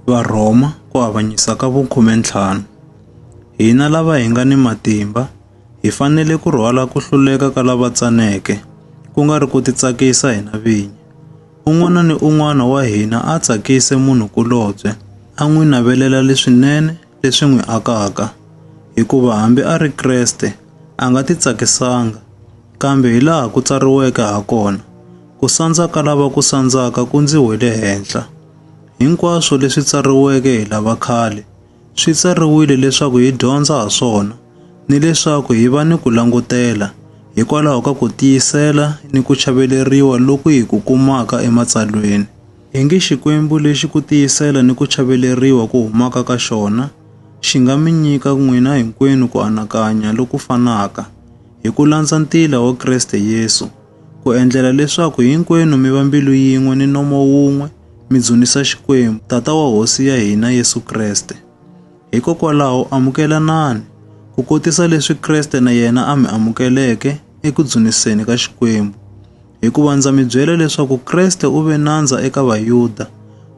Varhoma ku avanyisa ka vukhume ntlhanu. Hina lava hi nga ni matimba hi fanele ku rhwala ku hluleka ka lava tsaneke, ku nga ri ku titsakisa hina vinyi. Un'wana ni un'wana wa hina a tsakise munhu-kulobye, a n'wi navelela leswinene leswi n'wi akaka, hikuva hambi a ri Kreste, a nga titsakisanga. Kambe hilaha ku tsariweke hakona, Ku sandza ka lava ku sandzaka ku ndzi wele henhla. Hinkwaswo leswi tsariweke hi lava khale, swi tsariwile leswaku hi dyondza ha swona, ni leswaku hi va ni ku langutela hikwalaho ka ku tiyisela ni ku chaveleriwa loku hi ku kumaka eMatsalweni. Hi nge Xikwembu lexi ku tiyisela ni ku chaveleriwa ku humaka ka xona xi nga mi nyika n'wina hinkwenu ku anakanya loku fanaka hi ku landza ntila wa Kreste Yesu, ku endlela leswaku hinkwenu mi va mbilu yin'we ni nomo wun'we mi dzunisa Xikwembu, Tata wa Hosi ya hina Yesu Kreste. Hikokwalaho amukelanani, ku kotisa leswi Kreste na yena a mi amukeleke eku dzuniseni ka Xikwembu, hikuva ndza mi byela leswaku Kreste u ve nandza eka Vayuda,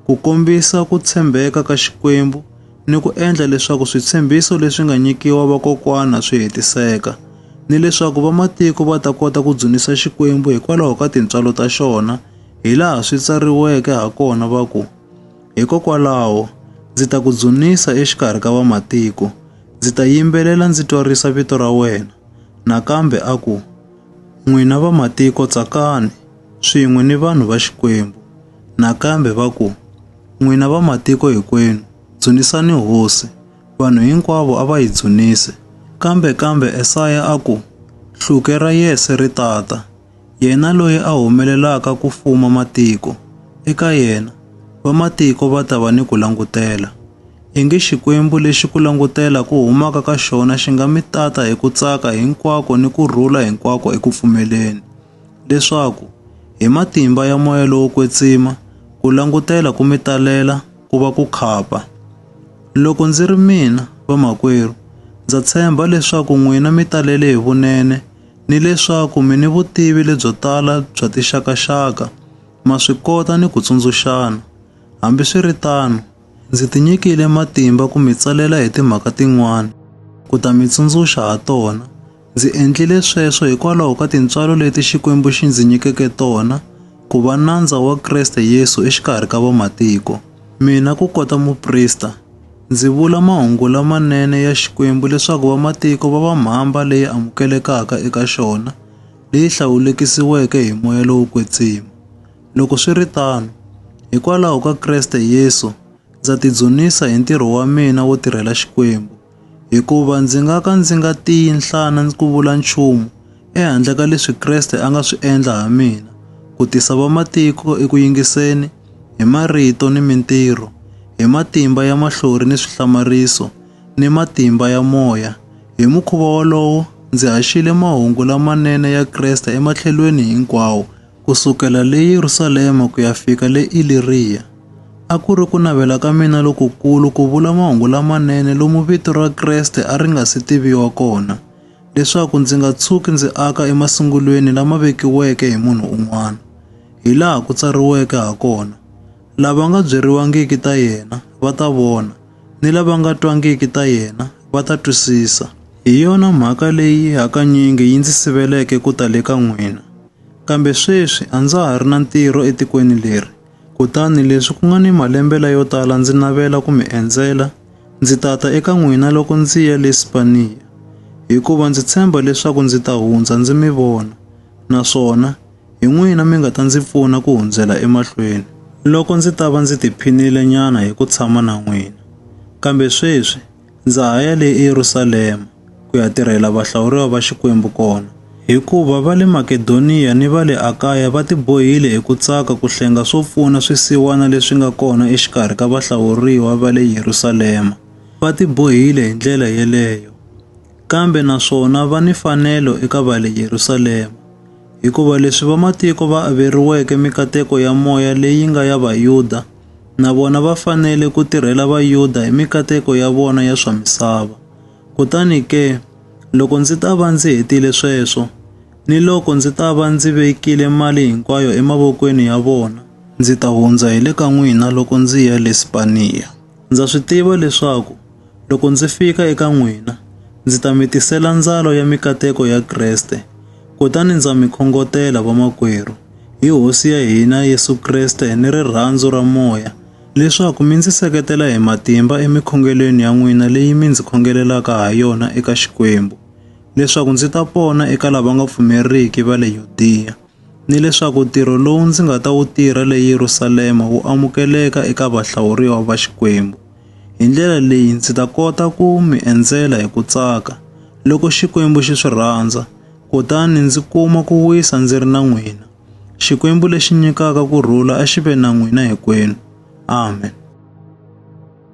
ku kombisa ku tshembeka ka Xikwembu ni ku endla leswaku switshembiso leswi nga nyikiwa vakokwana swi hetiseka, ni leswaku vamatiko va ta kota ku dzunisa Xikwembu hikwalaho ka tintswalo ta xona, hi laha swi tsariweke ha kona va ku, Hikokwalaho ndzi ta ku dzunisa exikarhi ka vamatiko, ndzi ta yimbelela ndzi twarisa vito ra wena. Nakambe a ku, N'wina vamatiko tsakani, swin'we ni vanhu va Xikwembu, nakambe va ku, N'wina vamatiko hinkwenu, dzunisani hosi. Vanhu hinkwavo a va yi dzunise. Kambe, kambe Esaya a ku, Hluke ra Yese ri ta ta, yena loyi a humelelaka ku fuma matiko. Eka yena, vamatiko va ta va ni ku langutela. Ingi Xikwembu lexi ku langutela ku humaka ka xona xi nga mi tata hi ku tsaka hinkwako ni ku rhula hinkwako eku pfumeleni, leswaku, hi matimba ya moya lowo kwetsima, ku langutela ku mi talela ku va ku khapa. Loko ndzi ri mina, vamakwerhu, ndza tshemba leswaku n'wina mi talele hi vunene ni leswaku mi ni vutivi lebyo tala bya tixakaxaka, ma swi kota ni ku tsundzuxana. Hambi swi ri tano, Ndzi tinyikile matimba ku mi tsalela hi timhaka tin'wana, ku ta mi tsundzuxa ha tona. Ndzi endlile sweswo hikwalaho ka tintswalo leti Xikwembu xi ndzi nyikeke tona, ku va nandza wa Kreste Yesu exikarhi ka vamatiko, mina ku kota muprista. Ndzi vula mahungu lamanene ya Xikwembu leswaku vamatiko va va mhamba leyi amukelekaka eka xona, leyi hlawulekisiweke hi moya lowo kwetsima. Loko swi ri tano, hikwalaho ka Kreste Yesu, ndza tidzunisa hi ntirho wa mina wo tirhela Xikwembu, hikuva ndzi nga ka ndzi nga tiyi nhlana ku vula nchumu ehandle ka leswi Kreste a nga swi endla ha mina, ku tisa vamatiko eku yingiseni, hi marito ni mintirho, hi matimba ya mahlori ni swihlamariso, ni matimba ya moya. Hi mukhuva wolowo, ndzi haxile mahungu lamanene ya Kreste ematlhelweni hinkwawo, ku sukela le Yerusalema ku ya fika le Iliriya. A ku ri ku navela ka mina lokukulu ku vula mahungu lamanene lomu vito ra Kreste a ri nga si tiviwa kona, leswaku ndzi nga tshuki ndzi aka emasungulweni lama vekiweke hi munhu un'wana. Hi laha ku tsariweke ha kona, Lava nga byeriwangiki ta yena va ta vona, ni lava nga twangiki ta yena va ta twisisa. Hi yona mhaka leyi hakanyingi yi ndzi siveleke ku ta le ka n'wina. Kambe sweswi a ndza ha ri na ntirho etikweni leri, kutani leswi ku nga ni malembe layo tala ndzi navela ku mi endzela, ndzi ta ta eka n'wina loko ndzi ya le Spaniya, hikuva ndzi tshemba leswaku ndzi ta hundza ndzi mi vona, naswona hi n'wina mi nga ta ndzi pfuna ku hundzela emahlweni. Loko ndzi ta va ndzi tiphinile nyana hi ku tshama na n'wina. Kambe sweswi, Ndza ha ya le eYerusalema ku ya tirhela vahlawuriwa va Xikwembu kona, hikuva va le Makedoniya ni va le Akaya va tibohile hi ku tsaka ku hlenga swo pfuna swisiwana leswi nga kona exikarhi ka vahlawuriwa va le Yerusalema. Va tibohile hi ndlela yeleyo, kambe naswona va ni mfanelo eka va le Yerusalema, hikuva leswi vamatiko va averiweke mikateko ya moya leyi nga ya Vayuda, na vona va fanele ku tirhela Vayuda hi mikateko ya vona ya swa misava. Kutani ke, loko ndzi ta va ndzi hetile sweswo, ni loko ndzi ta va ndzi vekile mali hinkwayo emavokweni ya vona, ndzi ta hundza hi le ka n'wina loko ndzi ya le Spaniya. Ndza swi tiva leswaku Loko ndzi fika eka n'wina, ndzi ta mi tisela ndzalo ya mikateko ya Kreste, kutani ndza mi khongotela vamakwerhu, hi Hosi ya hina Yesu Kreste ni rirhandzu ra Moya, leswaku mi ndzi seketela hi matimba emikhongelweni ya n'wina leyi mi ndzi khongelelaka ha yona eka Xikwembu, leswaku ndzi ta pona eka lava nga pfumeriki va le Yudiya. ni leswaku ntirho lowu ndzi nga ta wu tirha le Yerusalema wu amukeleka eka vahlawuriwa va Xikwembu. Hi ndlela leyi ndzi ta kota ku mi endzela hi ku tsaka, loko Xikwembu xi swi rhandza, kutani ndzi kuma ku wisa ndzi ri na n'wina. Xikwembu lexi nyikaka ku rhula a xi ve na n'wina hinkwenu. Amen.